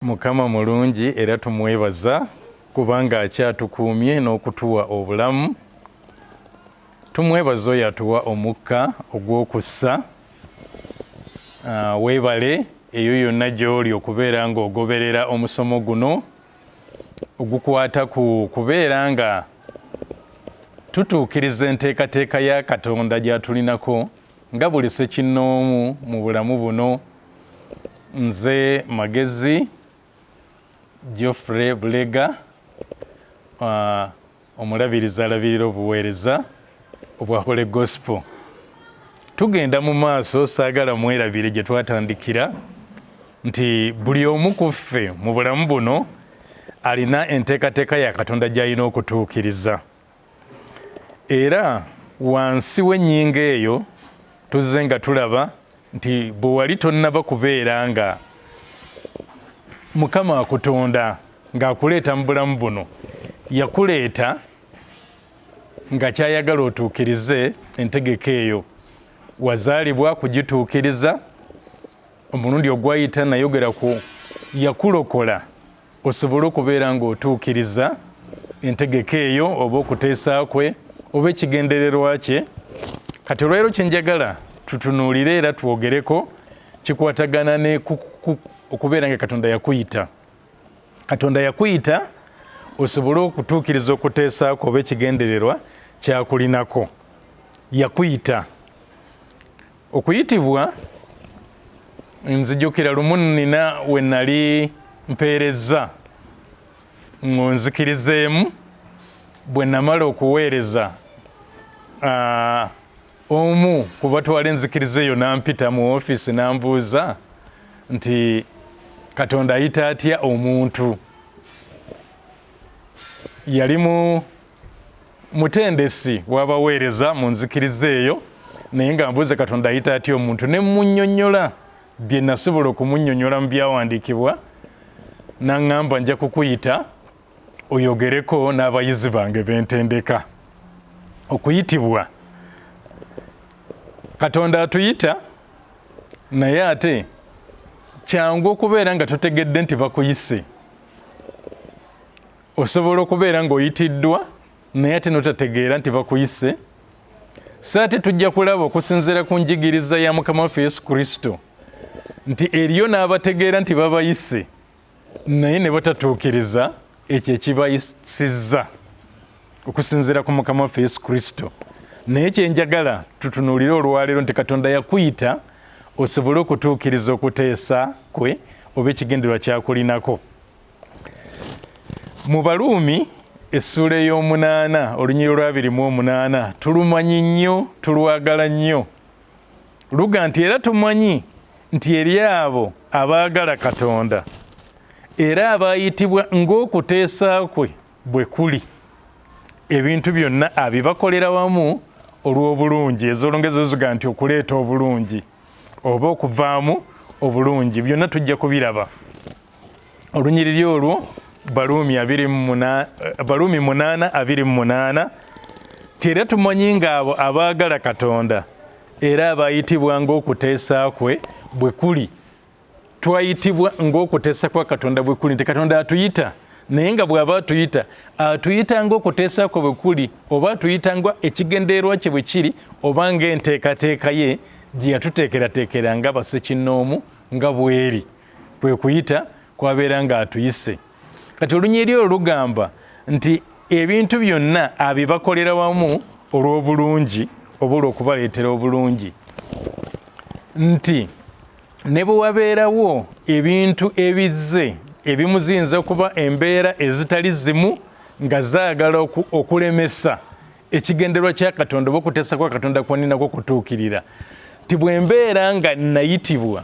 Mukama mulungi era tumwebaza kubanga akyatukuumye n'okutuwa obulamu. Tumwebaza oyo atuwa omukka ogw'okussa. Ah, weebale eyo yonna gy'oli okubeera ng'ogoberera omusomo guno ogukwata ku kubeera nga tutuukiriza enteekateeka ya Katonda gy'atulinako Nga buli ssekinnoomu mu bulamu buno, nze Magezi Geoffrey Bulega, Omulabirizi alabirira obuweereza obwa Holy Gospel. Tugenda mu maaso, saagala mwerabire gye twatandikira nti buli omu ku ffe mu bulamu buno alina enteekateeka ya Katonda gy'alina okutuukiriza. Era wansi w'ennyingo eyo tuzze nga tulaba nti bwe wali tonnaba kubeera nga Mukama akutonda ng'akuleeta mu bulamu buno, yakuleeta nga ky'ayagala otuukirize entegeka eyo. Wazaalibwa kugituukiriza. Omulundi ogwayita nayogera ku yakulokola. osobole okubeera ng'otuukiriza entegeka eyo oba okuteesa kwe oba ekigendererwa kye kati olwaleero kyenjagala tutunuulire era twogereko kikwatagana ne okubeera nga katonda yakuyita katonda yakuyita osobole okutuukiriza okuteesaako oba ekigendererwa kyakulinako yakuyita okuyitibwa nzijukira lumu nina we nali mpeerezza ngonzikirizeemu bwe namala okuweereza ah, omu ku batwala enzikiriza eyo nampita mu ofiisi nambuuza nti katonda ayita atya omuntu yalimu mutendesi wabaweereza mu nzikiriza eyo naye nga mbuuze katonda ayita atya omuntu ne munyonyola bye nasobola okumunyonyola mu byawandiikibwa naŋŋamba nja kukuyita oyogereko n'abayizi bange bentendeka okuyitibwa katonda atuyita naye ate kyangu okubeera nga totegedde nti bakuyise osobola okubeera ng'oyitiddwa naye ate notategeera nti bakuyise so ate tujja kulaba okusinziira ku njigiriza ya mukama waffe yesu kristo nti eriyo n'abategeera nti babayise naye ne batatuukiriza ekyo ekibayisizza okusinziira ku mukama waffe yesu kristo naye kyenjagala tutunuulire olwaleero nti katonda yakuyita osobole okutuukiriza okuteesa kwe oba ekigendererwa kyakulinako Mu Baruumi essuula ey'omunaana olunyiriro lw'abiri mu omunaana tulumanyi nnyo, tulwagala nnyo. Luga nti era tumanyi nti eri abo abaagala Katonda era abaayitibwa ng'okuteesa kwe bwe kuli ebintu byonna abibakolera wamu olw'obulungi ezolongezo ziga nti okuleeta obulungi oba okuvaamu obulungi byonna tujja kubiraba olunyiriri olwo baluumi abiri muna baluumi munaana abiri mu munaana nti era tumanyi ng'abo abaagala katonda era abayitibwa ng'okuteesa kwe bwe kuli twayitibwa ng'okuteesa kwa katonda bwe kuli nti katonda atuyita naye nga bw'aba atuyita atuyita ng'okuteesa kwe bwe kuli oba atuyita nga ekigendererwa kye bwe kiri oba ng'enteekateeka ye gye yatuteekerateekera nga basekinnoomu nga bweri kwe kuyita kwabeera ng'atuyise kati olunyiri olwo lugamba nti ebintu byonna abibakolera wamu olw'obulungi oba olw'okubaleetera obulungi nti ne bwe wabeerawo ebintu ebizze ebimu ziyinza okuba embeera ezitali zimu nga zaagala okulemesa ekigenderwa kya katonda oba okuteesa kwa katonda kwoninako okutuukirira nti bwe mbeera nga nayitibwa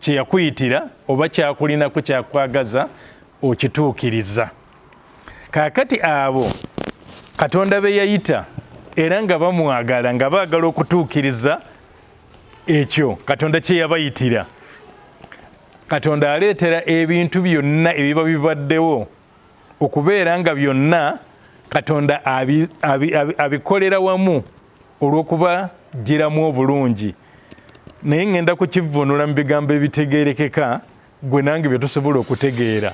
kye yakuyitira oba kyakulinako kyakwagaza okituukiriza kaakati abo katonda be yayita era nga bamwagala nga baagala okutuukiriza ekyo katonda kye yabayitira katonda aleetera ebintu byonna ebiba bibaddewo okubeera nga byonna katonda abikolera wamu olw'okubaggyiramu obulungi naye ŋŋenda kukivvuunula mu bigambo ebitegeerekeka gwe nange bye tusobola okutegeera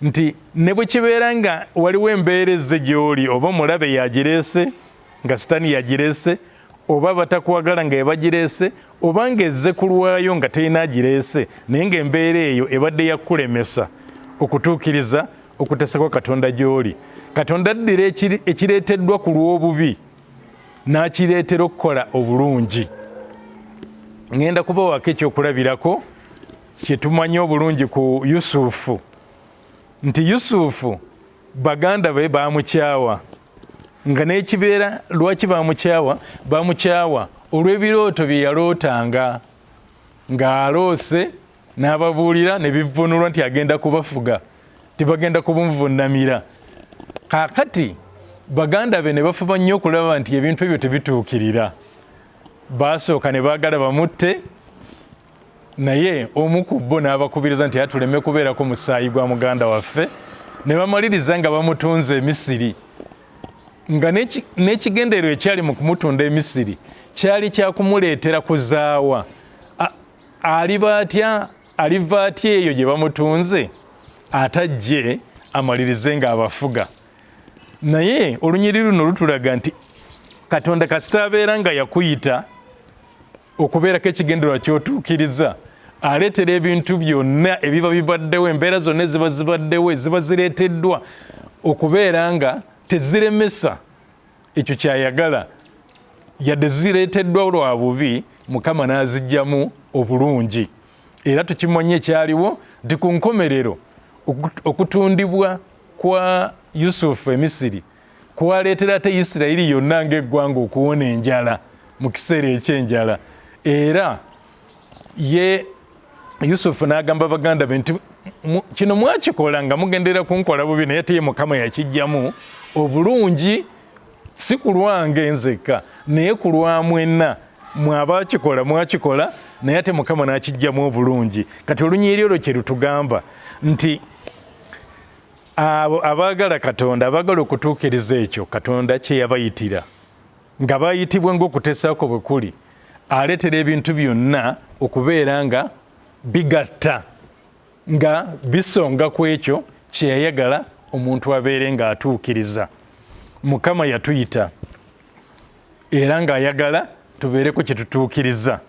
nti ne bwe kibeera nga waliwo embeera ezze gy'oli oba omulabe yagireese nga sitaani yagireese oba batakwagala nga ebagireese oba ng'ezze ku lwayo nga terina agireese naye ng'embeera eyo ebadde yakulemesa okutuukiriza okutesa kwa katonda gy'oli katonda addira ekireeteddwa ku lw'obubi n'akireetera okukola obulungi ŋŋenda kubawako ekyokulabirako kye tumanyi obulungi ku yusufu nti yusufu baganda be baamukyawa nga n'ekibeera lwaki baamukyawa baamukyawa olw'ebirooto bye yalootanga ng'aloose n'ababuulira ne bivvuunulwa nti agenda kubafuga tibagenda kubunvunnamira kaakati baganda be ne bafuba nnyo okulaba nti ebintu ebyo tebituukirira baasooka ne baagala bamutte naye omu ku bo n'abakubiriza nti atuleme kubeerako musaayi gwa muganda waffe ne bamaliriza nga bamutunze emisiri nga n'ekigendererwa ekyali mu kumutunda emisiri kyali kyakumuleetera kuzaawa aliba atya aliva atya eyo gye bamutunze atajje amalirize nga abafuga naye olunyiri luno lutulaga nti katonda kasita abeera nga yakuyita okubeerako ekigendererwa kyotuukiriza aleetera ebintu byonna ebiba bibaddewo embeera zonna eziba zibaddewo eziba zireeteddwa okubeera nga teziremesa ekyo kyayagala yadde zireeteddwa lwa bubi mukama n'azijjamu obulungi era tukimanyi ekyaliwo nti ku nkomerero okutundibwa kwa yusufu emisiri kwaleetera ate isirayiri yonna ng'eggwanga okuwona enjala mu kiseera eky'enjala era ye yusufu n'agamba baganda be nti kino mwakikola nga mugendera kunkola bubi naye teye mukama yakijjamu obulungi si ku lwange nzekka naye ku lwa mwenna mwabakikola mwakikola naye ate mukama n'akijjamu obulungi kati olunyiri olwo kye lutugamba nti abo abaagala katonda abaagala okutuukiriza ekyo katonda kye yabayitira Nga bayitibwa ng'okuteesa kwo bwe kuli, aleetera ebintu byonna okubeera nga bigatta, nga bisonga ku ekyo kye yayagala omuntu abeere ng'atuukiriza. Mukama yatuyita era ng'ayagala tubeereko kye tutuukiriza.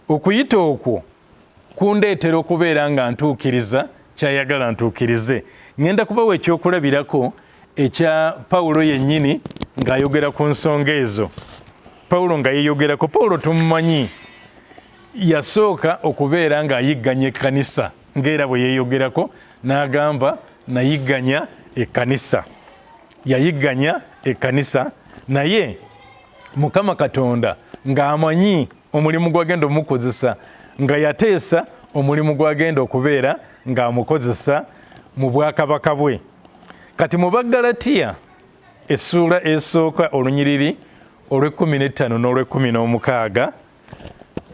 Okuyita okwo kundeetera okubeera nga ntuukiriza ky'ayagala ntuukirize. Ŋŋenda kubawa ekyokulabirako ekya Pawulo yennyini ng'ayogera ku nsonga ezo. Pawulo nga yeeyogerako, Pawulo tumumanyi, yasooka okubeera ng'ayigganya ekkanisa ng'era bwe yeeyogerako n'agamba nayigganya ekkanisa yayigganya ekkanisa naye mukama katonda ng'amanyi omulimu gwagenda omukozesa nga yateesa omulimu gwagenda okubeera ng'amukozesa mu bwakabaka bwe kati mu baggalatiya essuula esooka olunyiriri olw'ekkumi n'ettaano n'olw'ekkumi n'omukaaga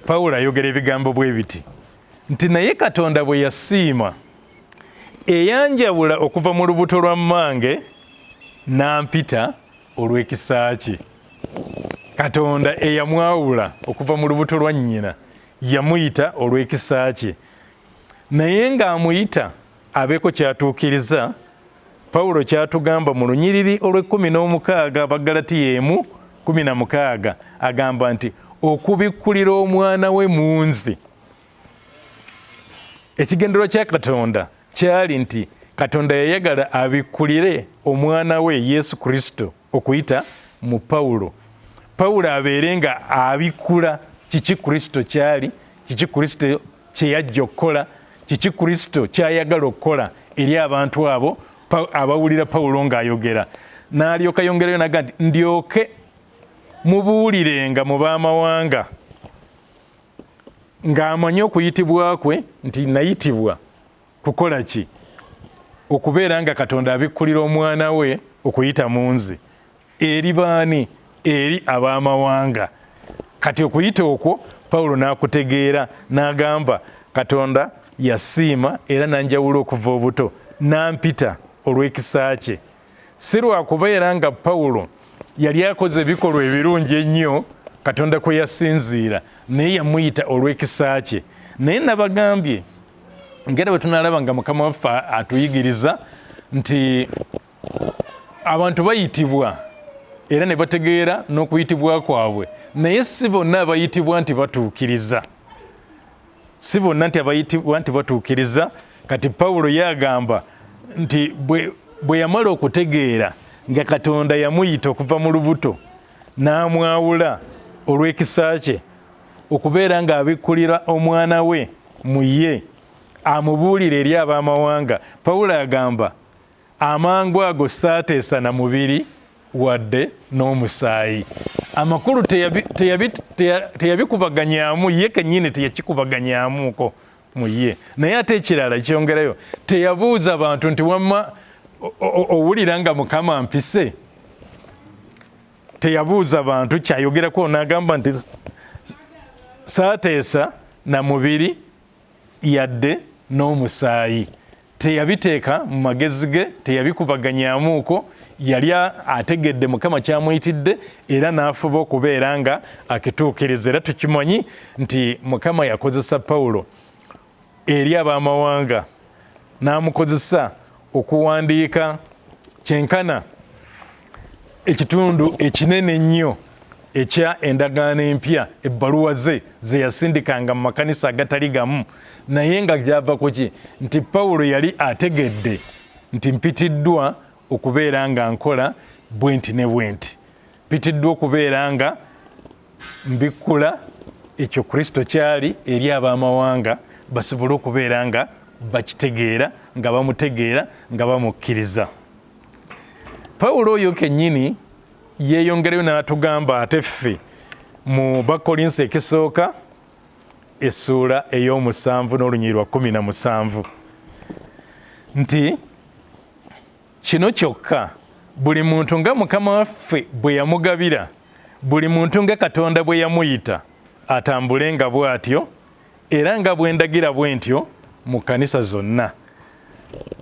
pawulo ayogera ebigambo bwe biti nti naye katonda bwe yasiima eyanjawula okuva mu lubuto lwa mmange n'ampita olw'ekisa kye katonda eyamwawula okuva mu lubuto lwa nnyina yamuyita olw'ekisa kye naye ng'amuyita abeeko kyatuukiriza pawulo kyatugamba mu lunyiriri olw'ekkumi n'omukaaga abagalatiya emu kumi na mukaaga agamba nti okubikkulira omwana we mu nzi Ekigendero kya Katonda kyali nti Katonda yayagala abikkulire omwana we Yesu Kristo okuyita mu Pawulo. Pawulo abeere nga abikkula kiki Kristo kyali, kiki Kristo kye yajja okukola, kiki Kristo kyayagala okukola eri abantu abo abawulira Pawulo ng'ayogera. N'alyoka yongerayo naga nti ndyoke mubuulirenga mu b'amawanga. ng'amanyi okuyitibwa kwe nti nayitibwa kukola ki okubeera nga katonda abikkulira omwana we okuyita mu nze eri baani eri ab'amawanga kati okuyita okwo pawulo n'akutegeera n'agamba katonda yasiima era nanjawula okuva obuto nampita olw'ekisa kye Si lwa kubeera nga Pawulo yali akoze ebikolwa ebirungi ennyo Katonda kwe yasinziira, naye yamuyita olw'ekisa kye. Naye nabagambye ngera bwe tunaalaba nga Mukama waffe atuyigiriza nti abantu bayitibwa era ne bategeera n'okuyitibwa kwabwe, naye si bonna abayitibwa nti batuukiriza. si bonna nti abayitibwa nti batuukiriza kati pawulo yagamba nti bwe yamala okutegeera nga katonda yamuyita okuva mu lubuto n'amwawula olw'ekisa kye okubeera ng'abikkulira omwana we mu ye amubuulire eri ab'amawanga pawulo agamba Amangu ago ssaateesa na mubiri wadde n'omusaayi. Amakulu teyabikubaganyaamu ye kennyini, teyakikubaganyaamuuko mu ye. Naye ate ekirala kyongerayo, teyabuuza bantu nti wamma owulira nga Mukama mpise? Teyabuuza bantu kyayogerako n'agamba nti saateesa na mubiri yadde n'omusaayi. Teyabiteeka mu magezi ge, teyabikubaganyamuuko, yali ategedde Mukama ky'amuyitidde era n'afuba okubeera nga akituukiriza. Era tukimanyi nti Mukama yakozesa Pawulo eri ab'amawanga n'amukozesa okuwandiika kyenkana ekitundu ekinene ennyo ekya endagaano empya ebbaluwa ze ze yasindikanga mu makanisa agatali gamu naye nga gyava ku ki nti pawulo yali ategedde nti mpitiddwa okubeera nga nkola bwenti ne bwenti Mpitiddwa okubeera nga mbikkula ekyo Kristo kyali eri ab'amawanga basobole okubeera nga bakitegeera nga bamutegeera nga bamukkiriza. Pawulo oyo kennyini yeeyongerayo n'atugamba ate ffe mu bakolinsi ekisooka essuula ey'omusanvu n'olunyiriri lwa kumi na musanvu nti Kino kyokka, buli muntu nga Mukama waffe bwe yamugabira, buli muntu nga Katonda bwe yamuyita, atambule nga bw'atyo, era nga bwe ndagira bwe ntyo mu kkanisa zonna.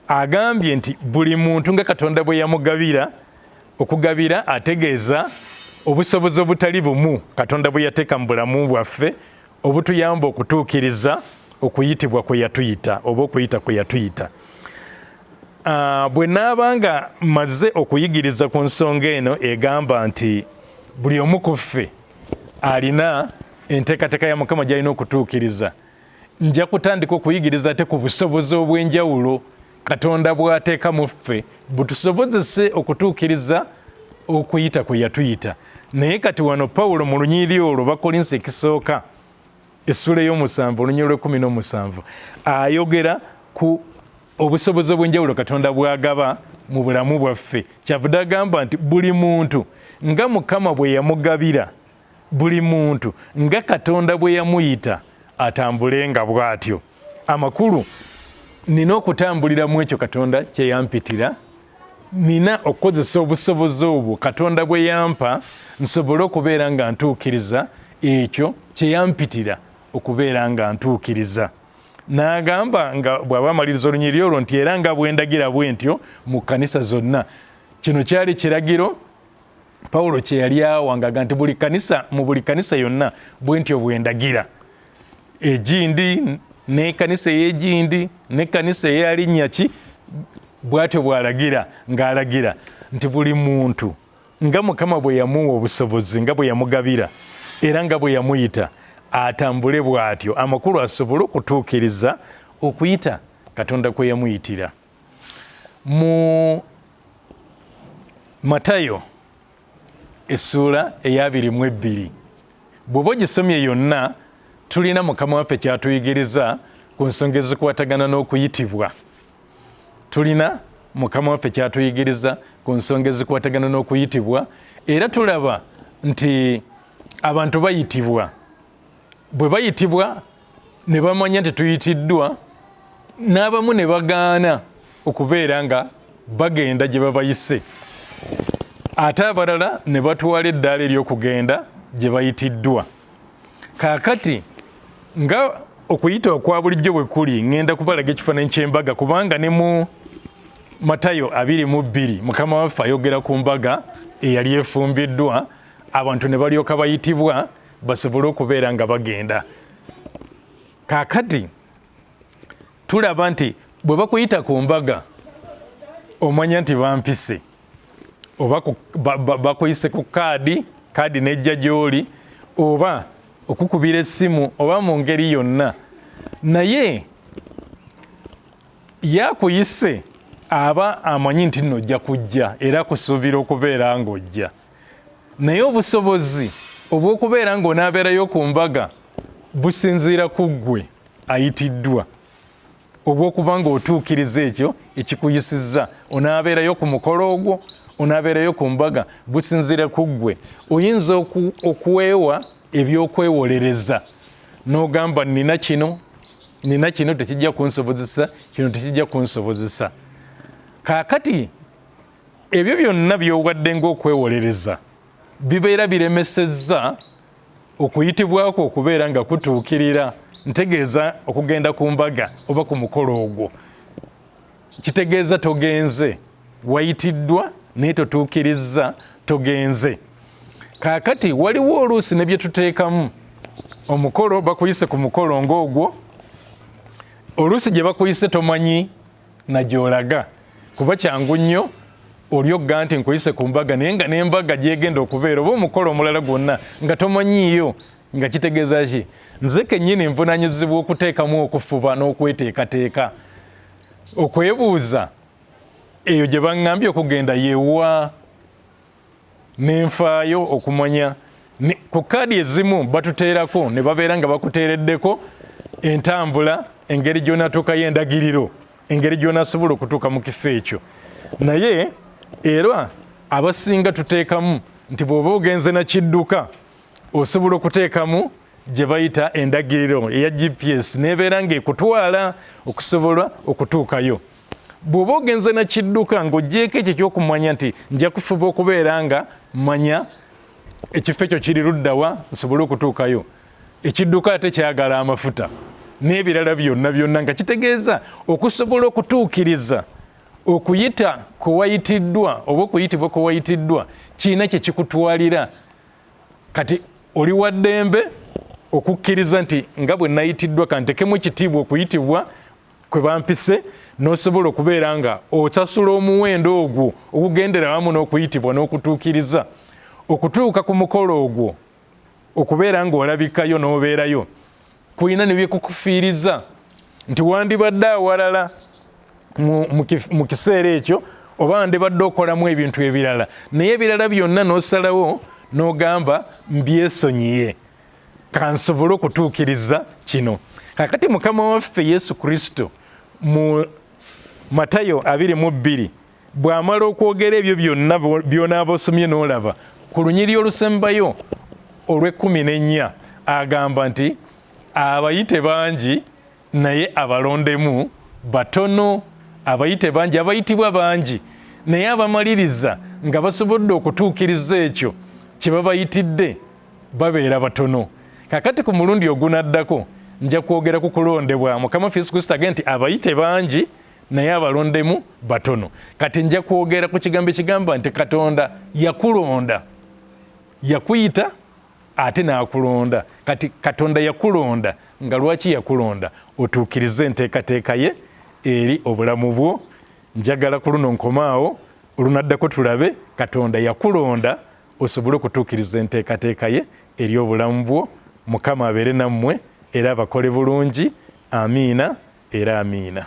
Agambye nti buli muntu nga Katonda bwe yamugabira, okugabira ategeeza obusobozi obutali bumu Katonda bwe yateeka mu bulamu bwaffe obutuyamba okutuukiriza okuyitibwa kwe yatuyita oba okuyita kwe yatuyita ah, bwe naaba nga mmaze okuyigiriza ku nsonga eno egamba nti buli omu ku ffe alina enteekateeka ya mukama gy'alina okutuukiriza nja kutandika okuyigiriza ate ku busobozi obw'enjawulo Katonda bw'ateeka mu ffe butusobozese okutuukiriza okuyita kwe yatuyita. Naye kati wano Pawulo mu lunyiriri olwo Bakolinsi ekisooka essula ey'omusanvu olunyiriri lw'ekkumi n'omusanvu ayogera ku obusobozi obw'enjawulo Katonda bw'agaba mu bulamu bwaffe. Kyavude agamba nti buli muntu nga Mukama bwe yamugabira, buli muntu nga Katonda bwe yamuyita atambulenga bw'atyo. amakulu nina okutambulira mu ekyo katonda kyeyampitira nina okukozesa obusobozi obwo katonda bwe yampa nsobole okubeera nga ntuukiriza ekyo kyeyampitira okubeera nga ntuukiriza n'agamba nga bw'aba amaliriza olunyiri olwo nti era nga bwendagira bwe ntyo mu kkanisa zonna kino kyali kiragiro pawulo kye yali awangaga nti buli kanisa mu buli kanisa yonna bwe ntyo bwe ndagira egindi n'ekanisa ey'egindi n'ekanisa eya linnya ki bw'atyo bw'alagira ng'alagira nti buli muntu nga mukama bwe yamuwa obusobozi nga bwe yamugabira era nga bwe yamuyita atambule bw'atyo amakulu asobole okutuukiriza okuyita katonda kwe yamuyitira mu matayo essuula eyabiri mu ebbiri bw'oba ogisomye yonna tulina mukama waffe kyatuyigiriza ku nsonga ezikwatagana n'okuyitibwa tulina mukama waffe kyatuyigiriza ku nsonga ezikwatagana n'okuyitibwa era tulaba nti abantu bayitibwa bwe bayitibwa ne bamanya nti tuyitiddwa n'abamu ne bagaana okubeera nga bagenda gye babayise ate abalala ne batwala eddaala ery'okugenda gye bayitiddwa kaakati nga okuyita okwa bulijjo bwe kuli ŋŋenda kubalaga ekifaananyi ky'embaga kubanga ne mu matayo abiri mu bbiri mukama waffe ayogera ku mbaga eyali efumbiddwa abantu ne balyoka bayitibwa basobole okubeera nga bagenda kakati tulaba nti bwe bakuyita ku mbaga omanya nti bampise oba bakuyise ku kaadi kaadi nejja gyoli oba okukubira essimu oba mu ngeri yonna naye yakuyise aba amanyi nti nno ojja kujja era kusuubira okubeera ng'ojja naye obusobozi obw'okubeera ng'onaabeerayo ku mbaga businziira ku ggwe ayitiddwa obw'okuba ng'otuukiriza ekyo ekikuyisizza onaabeerayo ku mukolo ogwo onaabeerayo ku mbaga businziira ku ggwe oyinza okwewa ebyokwewolereza n'ogamba nina kino nina kino tekijja kunsobozesa kino tekijja kunsobozesa kaakati ebyo byonna by'obadde ng'okwewolereza bibeera biremesezza okuyitibwa kwo okubeera nga kutuukirira ntegeeza okugenda ku mbaga oba ku mukolo ogwo kitegeeza togenze wayitiddwa naye totuukirizza togenze kaakati waliwo oluusi ne bye tuteekamu omukolo bakuyise ku mukolo ng'ogwo oluusi gye bakuyise tomanyi na gyolaga kuba kyangu nnyo oli ogga nti nkuyise ku mbaga naye nga n'embaga gyegenda okubeera oba omukolo omulala gwonna nga tomanyiiyo nga kitegeeza ki nze kennyini nvunanyizibwa okuteekamu okufuba n'okweteekateeka okwebuuza eyo gye baŋŋambye okugenda yewa ne nfaayo okumanya ku kaadi ezimu batuteerako ne babeera nga bakuteereddeko entambula engeri gy'onatuukayo endagiriro engeri gy'onasobola okutuuka mu kifo ekyo naye era abasinga tuteekamu nti bw'oba ogenze na kidduka osobola okuteekamu gye bayita endagiriro eya gps n'ebeera ng'ekutwala okusobola okutuukayo bw'oba ogenze na kidduka ng'ogyeko ekyo ekyokumanya nti nja kufuba okubeera nga manya ekifo ekyo kiri luddawa nsobole okutuukayo ekidduka ate kyagala amafuta n'ebirala byonna byonna nga kitegeeza okusobola okutuukiriza okuyita kwewayitiddwa oba okuyitibwa kwewayitiddwa kirina kye kikutwalira kati oli wa ddembe okukkiriza nti nga bwe nayitiddwa kantekemu ekitiibwa okuyitibwa kwe bampise n'osobola okubeera nga osasula omuwendo ogwo ogugendera wamu n'okuyitibwa n'okutuukiriza okutuuka ku mukolo ogwo okubeera ng'olabikayo n'obeerayo kulina ne byekukufiiriza nti wandibadde awalala mu kiseera ekyo oba wandibadde okolamu ebintu ebirala naye ebirala byonna n'osalawo n'ogamba mbyesonyiye kansobole okutuukiriza kino kakati mukama waffe yesu kristo mu matayo abiri mu bbiri bw'amala okwogera ebyo byonna by'onaaba osomye n'olaba ku lunyiri olusembayo olw'ekkumi n'ennya agamba nti abayite bangi naye abalondemu batono abayite bangi abayitibwa bangi naye abamaliriza nga basobodde okutuukiriza ekyo kye babayitidde babeera batono kakati ku mulundi ogunaddako nja kwogera ku kulondebwa mukama ffe yesu kristo age nti abayite bangi naye abalondemu batono kati nja kwogera ku kigambo ekigamba nti katonda yakulonda yakuyita ate n'akulonda kati katonda yakulonda nga lwaki yakulonda otuukirize enteekateeka ye eri obulamu bwo njagala ku luno nkomaawo olunaddako tulabe katonda yakulonda osobole okutuukiriza enteekateeka ye eri obulamu bwo mukama abeere nammwe era abakole bulungi amiina era amiina